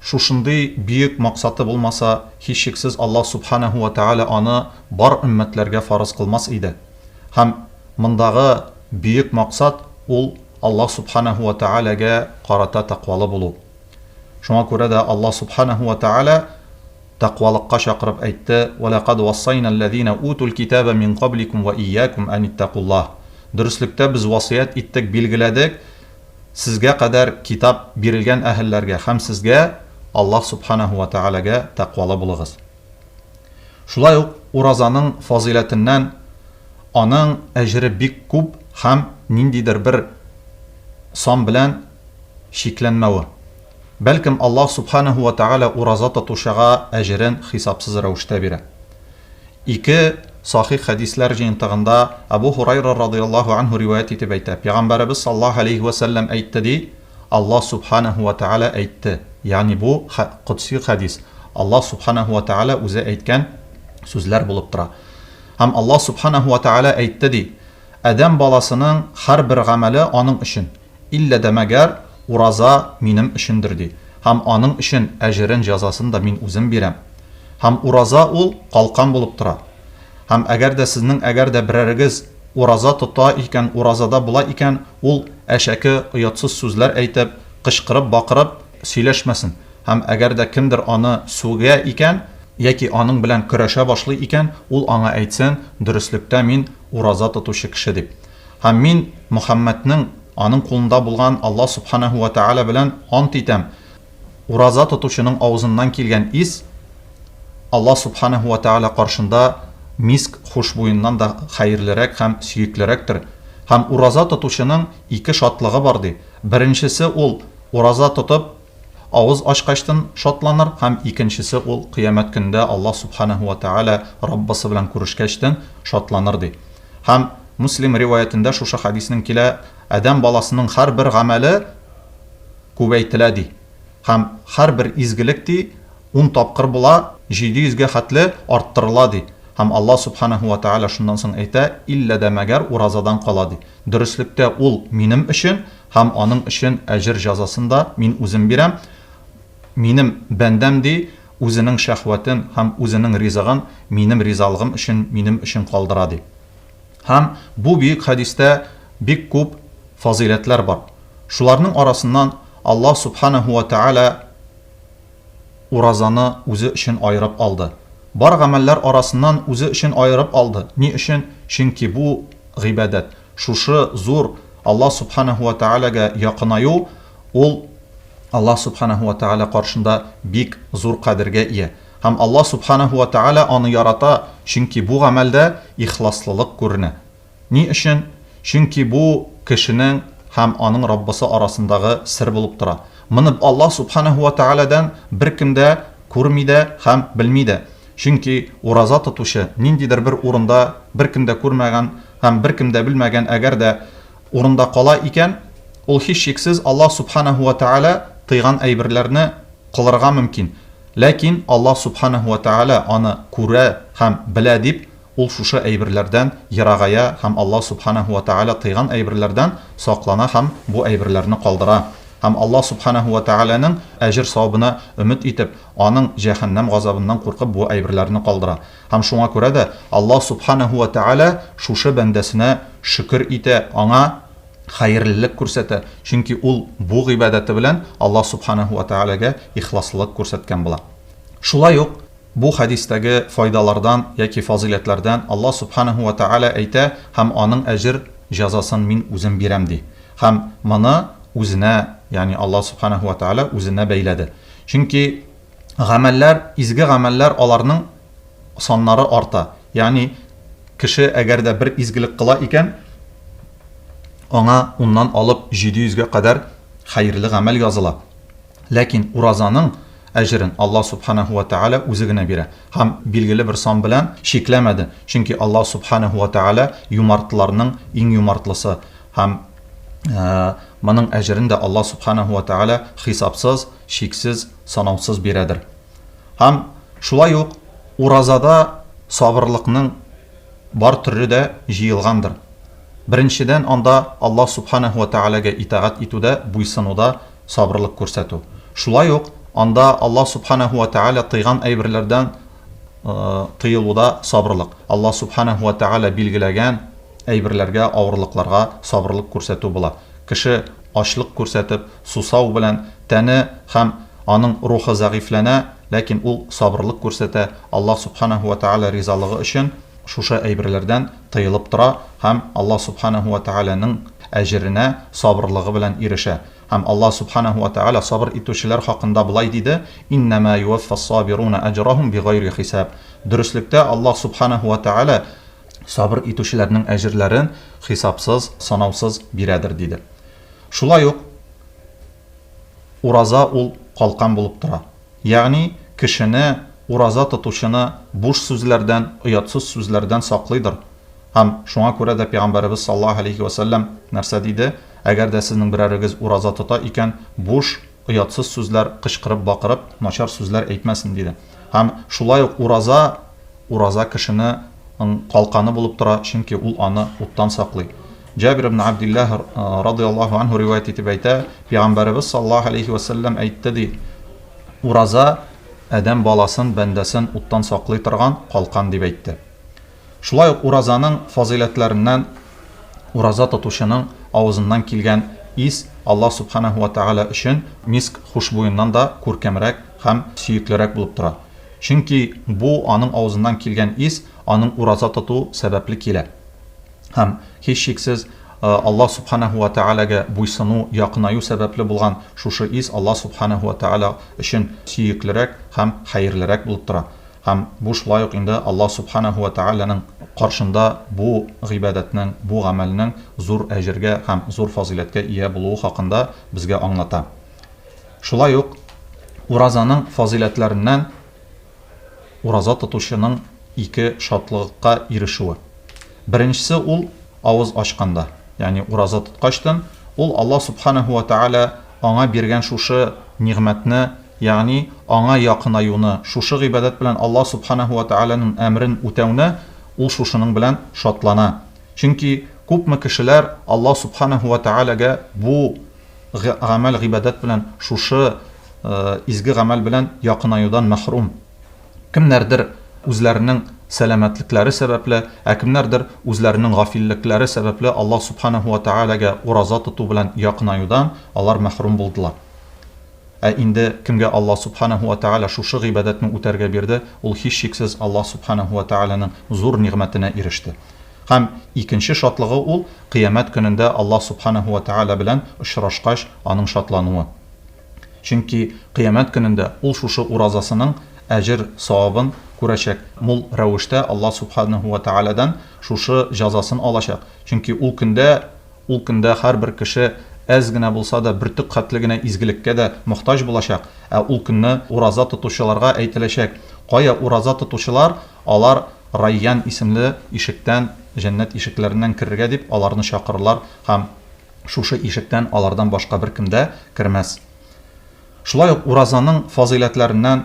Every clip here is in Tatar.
Шушындый бөек максаты булмаса, һичшиксез Аллаһ Сүбхәнәһү вә Тәгалә аны бар өммәтләргә фарыз кылмас иде. Һәм мондагы бөек максат ул Аллаһ Сүбхәнәһү вә Тәгаләгә карата тәкъвалы булу. Шуңа күрә дә Аллаһ Сүбхәнәһү вә Тәгалә тәкъвалыкка чакырып әйтте, Вә ләкад уассайна алләзина утул китәбә мин кабликум вә ияәкум ән иттәкуллаһ. Дөреслектә без васыять иттек, билгеләдек, Сезгә кадәр Китап бирелгән әһелләргә һәм сезгә, Аллаһ Субханаһу вә Тәгаләгә тәкъвалы булыгыз. Шулай ук уразаның фазыйләтеннән аның әҗере бик күп һәм ниндидер бер сан белән чикләнмәве. Бәлкем, Аллаһ Субханаһу вә Тәгалә ураза тотучыга әҗерен хисапсыз рәвештә бирә. Ике сахих хәдисләр җыентыгында Әбү Һурайра радыяллаһу анһу риваять итеп әйтә, Пәйгамбәребез саллаллаһу галәйһи вә сәлләм әйтте, ди, Аллаһ субханаһу вә тәгалә әйтте, ягъни бу, котси хәдис, Аллаһ субханаһу вә тәгалә үзе әйткән сүзләр булып тора. Һәм Аллаһ субханаһу вә тәгалә әйтте, ди, Адәм баласының һәрбер гамәле аның өчен. Иллә дә мәгәр ураза минем өчендер, ди, һәм аның өчен әҗерен, җәзасын да мин үзем бирәм. Һәм ураза ул калкан булып тора. Һәм әгәр дә сезнең әгәр дә берәрегез ураза тота икән, уразада була икән, ул әшәке, оятсыз сүзләр әйтеп, кычкырып, бакырып сөйләшмәсен. Һәм әгәр дә кемдер аны сүгә икән, яки аның белән көрәшә башлый икән, ул аңа әйтсен, Дөреслектә мин ураза тотучы кеше, дип. Һәм мин Мөхәммәднең, аның кулында булган Аллаһ Субханаһу вә Тәгалә белән ант итәм, ураза тотучының авызыннан килгән ис Аллаһ Субханаһу вә Тәгалә каршында миск хушбуеннан да хәерлерәк һәм сөеклерәктер. Һәм ураза тотучының ике шатлыгы бар, ди. Беренчесе ул, ураза тотып, Авыз ачкачтын шатланыр һәм икенчесе ул Кыямәт көндә Аллаһ Субханәһү вә Тәгалә Раббысы белән күрешкәчтен шатланыр, ди. Һәм Муслим риваятендә шушы хәдиснең килә, Адәм баласының һәрбер гамәле күбәйтелә, ди. Һәм һәрбер изгелек, ди, ун тапкыр була, җиде йөзгә хәтле арттырыла, ди. Һәм Аллаһ Субханәһү вә Тәгалә шуннан соң әйтә, Иллә дә мәгәр уразадан кала, ди. Дөреслектә ул минем өчен, Һәм аның өчен әҗер җәзасын да Мин Үзем бирәм. Минем бәндәм, ди, үзенең шәһвәтен һәм үзенең ризыгын Минем ризалыгым өчен Минем өчен калдыра, ди. Һәм бу бөек хәдистә бик күп фазыйләтләр бар. Шуларның арасыннан Аллаһ Сүбхәнәһү вә Тәгалә уразаны Үзе өчен аерып алды. Бар гамәлләр арасыннан Үзе өчен аерып алды. Ни өчен? Чөнки бу, гыйбадәт. Шушы зур Аллаһ Сүбхәнәһү вә Тәгаләгә якынаю, ул Аллаһ Сүбхәнәһү вә Тәгалә каршында бик зур кадергә ия. Һәм Аллаһ Сүбхәнәһү вә Тәгалә аны ярата, чөнки бу гамәлдә ихласлылык күренә. Ни өчен? Чөнки бу кешенең һәм аның Раббысы арасындагы сер булып тора. Моны Аллаһ Сүбхәнәһү вә Тәгаләдән беркем дә күрми дә һәм белми дә. Чөнки ураза тотучы, ниндидер бер урында беркем дә күрмәгән Һәм беркем дә белмәгән, әгәр дә урында кала икән, ул һичшиксез Аллаһ Субханаһу вә Тәгалә тыйган әйберләрне кылырга мөмкин. Ләкин Аллаһ Субханаһу вә Тәгалә аны күрә һәм белә дип, ул шушы әйберләрдән ерагая һәм Аллаһ Субханаһу вә Тәгалә тыйган әйберләрдән саклана һәм бу әйберләрне калдыра. Һәм Аллаһ Субханаһу вә Тәгаләнең әҗер-савабына өмет итеп, Аның җәһәннәм газабыннан куркып бу әйберләрне калдыра. Һәм шуңа күрә дә Аллаһ Субханаһу вә Тәгалә шушы бәндәсенә шөкер итә, аңа хәерлелек күрсәтә, чөнки ул бу гыйбадәте белән Аллаһ Субханаһу вә Тәгаләгә ихласлылык күрсәткән була. Шулай ук бу хәдистәге файдалардан яки фазыйләтләрдән Аллаһ Субханаһу вә Тәгалә әйтә, Һәм аның әҗер, җәзасын Мин үзем бирәм, ди. Һәм моны үзенә, ягъни Аллаһ Субханаһу вә Тәгалә үзенә бәйләде. Чөнки. Гамәлләр, изге гамәлләр аларның саннары арта. Ягъни кеше әгәр дә бер изгелек кыла икән, аңа уннан алып җиде йөзгә кадәр хәерле гамәл языла. Ләкин уразаның әҗерен Аллаһ Субханаһу ва Тәгалә үзе генә бирә. Һәм билгеле бер сан белән чикләмәде, чөнки Аллаһ Субханаһу ва Тәгалә юмартларның иң юмартлысы һәм моның әҗерен дә Аллаһ Субханаһу ва Тәгалә хисапсыз, чиксез, санаусыз бирәдер. Һәм шулай ук уразада сабырлыкның бар төре дә җыелгандыр. Беренчедән, анда Аллаһ Сүбхәнәһү вә Тәгаләгә итагать итүдә, буйсынуда сабырлык күрсәтү. Шулай ук анда Аллаһ Сүбхәнәһү вә Тәгалә тыйган әйберләрдән тыелуда сабырлык, Аллаһ Сүбхәнәһү вә Тәгалә билгеләгән әйберләргә, авырлыкларга сабырлык күрсәтү була. Кеше ачлык күрсәтеп, сусау белән тәне һәм аның рухы зәгыйфьләнә, ләкин ул сабырлык күрсәтә, Аллаһ Субханаһу вә Тәгалә ризалыгы өчен шушы әйберләрдән тыелып тора һәм Аллаһ Субханаһу вә Тәгаләнең әҗеренә сабырлыгы белән ирешә. Һәм Аллаһ Субханаһу вә Тәгалә сабыр итүчеләр хакында болай диде, Иннәмә юәффәс-сабируна әҗрәһүм бигайри хисаб. Дөреслектә Аллаһ Субханаһу вә Тәгалә сабыр итүчеләрнең әҗерләрен хисапсыз, санаусыз бирәдер, диде. Шулай ук ураза ул калкан булып тора. Ягъни кешене, ураза тотучыны буш сүзләрдән, оятсыз сүзләрдән саклыйдыр. Һәм шуңа күрә дә Пәйгамбәребез саллаллаһу галәйһи вә сәлләм нәрсә диде, Әгәр дә сезнең берәрегез ураза тота икән, буш, оятсыз сүзләр кычкырып-бакырып, начар сүзләр әйтмәсен, диде. Һәм шулай ук ураза, ураза кешене ың калканы булып тора, чөнки ул аны уттан саклый. Җабир ибн Абдиллаһ, радыяллаһу анһу, риваять итеп әйтә, Пәйгамбәребез саллаллаһу алейһи вә сәлләм әйтте, ди, Ураза, адәм баласын, бәндәсен уттан саклый торган калкан, дип әйтте. Шулай ук уразаның фазыйләтләреннән, ураза тотучының авызыннан килгән ис Аллаһ субханаһу вә тәгалә өчен миск хушбуеннан да күркәмрәк һәм сөеклерәк булып тора, чөнки бу аның авызыннан килгән ис аның ураза тоту сәбәпле килә һәм, һичшиксез, Аллаһ Сүбхәнәһү вә Тәгаләгә буйсыну, якынаю сәбәпле булган шушы ис Аллаһ Сүбхәнәһү вә Тәгалә өчен сөеклерәк һәм хәерлерәк булып тора һәм бу шулай ук инде Аллаһ Сүбхәнәһү вә Тәгаләнең каршында бу гыйбадәтнең, бу гамәлнең зур әҗергә һәм зур фазыйләткә ия булуы хакында безгә аңлата. Шулай ук уразаның фазыйләтләреннән ураза тотучының ике шатлыгыкка ирешүе. Беренчесе ул, авыз ачканда, ягъни ураза тоткачтын, ул Аллаһ Сүбхәнәһү вә Тәгалә аңа биргән шушы нигъмәтне, ягъни Аңа якынаюны, шушы гыйбадәт белән Аллаһ Сүбхәнәһү вә Тәгаләнең әмерен үтәүне, ул шушының белән шатлана. Чөнки күпме кешеләр Аллаһ Сүбхәнәһү вә Тәгаләгә бу. гамәл-гыйбадәт белән шушы изге гамәл белән якынаюдан мәхрүм. Кемнәрдер үзләренең сәламәтлекләре сәбәпле, ә кемнәрдер үзләренең гафиллекләре сәбәпле Аллаһ Субханаһу ва Тәгаләгә ураза тоту белән якынаюдан алар мәхрүм булдылар. Ә инде кемгә Аллаһ Сүбхәнәһү вә Тәгалә шушы гыйбадәтне үтәргә бирде, ул һичшиксез Аллаһ Сүбхәнәһү вә Тәгаләнең зур нигъмәтенә иреште. Һәм икенче шатлыгы ул, Кыямәт көнендә Аллаһ Сүбхәнәһү вә Тәгалә белән очрашкач, аның шатлануы. Чөнки Кыямәт көнендә ул шушы уразасының әҗер-савабын күрәчәк, мул рәвештә Аллаһ Сүбхәнәһү вә Тәгаләдән шушы җәзасын алачак. Чөнки ул көндә Ул көндә һәрбер кеше әз генә булса да, бөртек хәтле генә изгелеккә дә мохтаҗ булачак, ә ул көнне ураза тотучыларга әйтеләчәк, Кая ураза тотучылар, алар Райян исемле ишектән, җәннәт ишекләреннән керергә дип, аларны чакырырлар һәм шушы ишектән алардан башка беркем дә кермәс. Шулай ук уразаның фазыйләтләреннән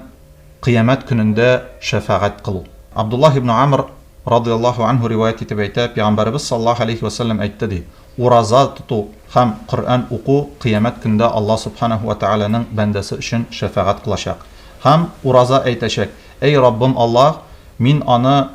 Кыямәт көнендә шәфәгать кылу. Абдуллаһ ибне Амр, радый Аллаһу анһу, риваять итеп әйтә, Пәйгамбәребез саллаллаһу галәйһи вә сәлләм әйтте, ди, Ураза тоту һәм Коръән уку Кыямәт көндә Аллаһ Собханәһү вә тәгаләнең бәндәсе өчен шәфәгать кылачак. Һәм ураза әйтәчәк, Әй Раббым Аллаһ, мин аны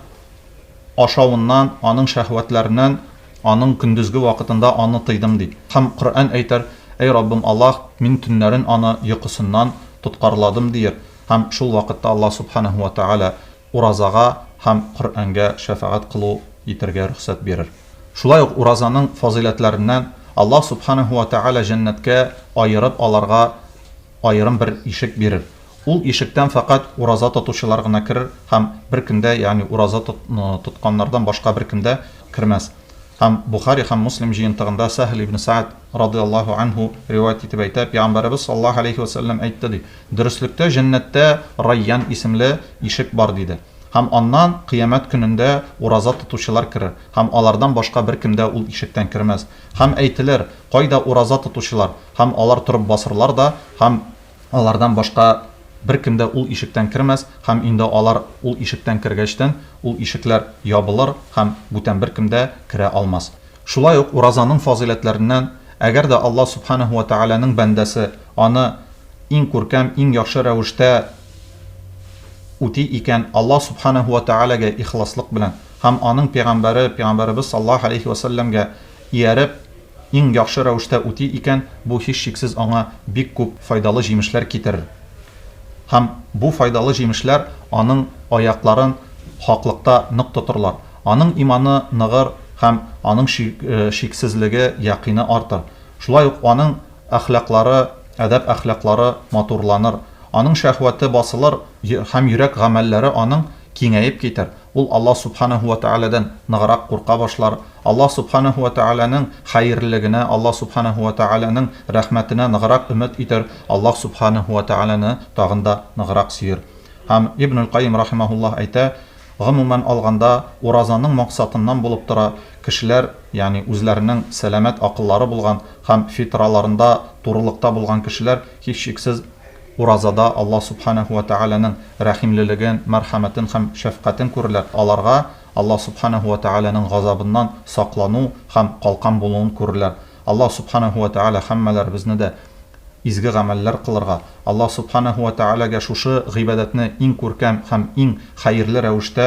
ашавыннан, аның шәһвәтләреннән Аның көндезге вакытында аны тыйдым ди. Һәм Коръән әйтәр, Әй Раббым Аллаһ, мин төннәрен аны йокысыннан тоткарладым, диер, һәм шул вакытта Аллаһ Сүбхәнәһү вә Тәгалә уразага һәм Коръәнгә шәфәгать кылу итәргә рөхсәт бирер. Шулай ук уразаның фазыйләтләреннән, Аллаһ Сүбхәнәһү вә Тәгалә җәннәткә аерып аларга аерым бер ишек бирер. Ул ишектән фәкать ураза тотучылар гына керер һәм бер кем дә, ягъни ураза тотканнардан башка бер кем дә кермәс. Һәм Бухари һәм Муслим җыентыгында Сәһл ибн Сәгъд, радый-Аллаһу анһу, риваять итеп әйтә, Пәйгамбәребез саллаллаһу галәйһи вә сәлләм әйтте, ди, Дөреслектә җәннәттә Райян исемле ишек бар, диде. Һәм аннан, кыямәт көнендә, ураза тотучылар керер, һәм алардан башка бер кем дә ул ишектән кермәс. Һәм әйтелер, Кайда ураза тотучылар? Һәм алар торып басырлар да, һәм Алардан башка беркем дә ул ишектән кермәс, һәм инде алар ул ишектән кергәчтен, ул ишекләр ябылыр һәм бүтән беркем дә керә алмас. Шулай ук уразаның фазыйләтләреннән, әгәр дә Аллаһ Сүбхәнәһү вә Тәгаләнең бәндәсе аны иң күркәм, иң яхшы рәвештә үти икән, Аллаһ Сүбхәнәһү вә Тәгаләгә ихласлык белән һәм Аның пәйгамбәре, пәйгамбәребез саллаллаһу галәйһи вә сәлләмгә ияреп, иң яхшы рәвештә үти икән, бу һичшиксез аңа бик күп файдалы җимешләр китерер. Һәм бу файдалы җимешләр аның аякларын хаклыкта нык тотырлар. Аның иманы ныгыр һәм аның шиксезлеге, якины артыр. Шулай ук аның әхлаклары, әдәп-әхлаклары матурланыр. Аның шәһвәте басылыр һәм йөрәк гамәлләре аның киңәеп китәр, ул Аллаһ Сүбхәнәһү вә Тәгаләдән ныграк курка башлар, Аллаһ Сүбхәнәһү вә Тәгаләнең хәерлелегенә, Аллаһ Сүбхәнәһү вә Тәгаләнең рәхмәтенә ныграк өмет итәр, Аллаһ Сүбхәнәһү вә Тәгаләне тагын да ныграк сөер. Һәм Ибнул Кайим рахимаһуллаһ әйтә, Гомумән алганда, уразаның максатыннан булып тора, кешеләр, ягъни үзләренең сәламәт акыллары булган һәм фитраларында турылыкта булган кешеләр, һичшиксез, Уразада Аллаһ Сүбхәнәһү вә Тәгаләнең рәхимлелеген, мәрхәмәтен һәм шәфкатен күрерләр, аларга Аллаһ Сүбхәнәһү вә Тәгаләнең газабыннан саклану һәм калкан булуын күрерләр. Аллаһ Сүбхәнәһү вә Тәгалә һәммәләребезне дә изге гамәлләр кылырга, Аллаһ Сүбхәнәһү вә Тәгаләгә шушы гыйбадәтне иң күркәм һәм иң хәерле рәвештә,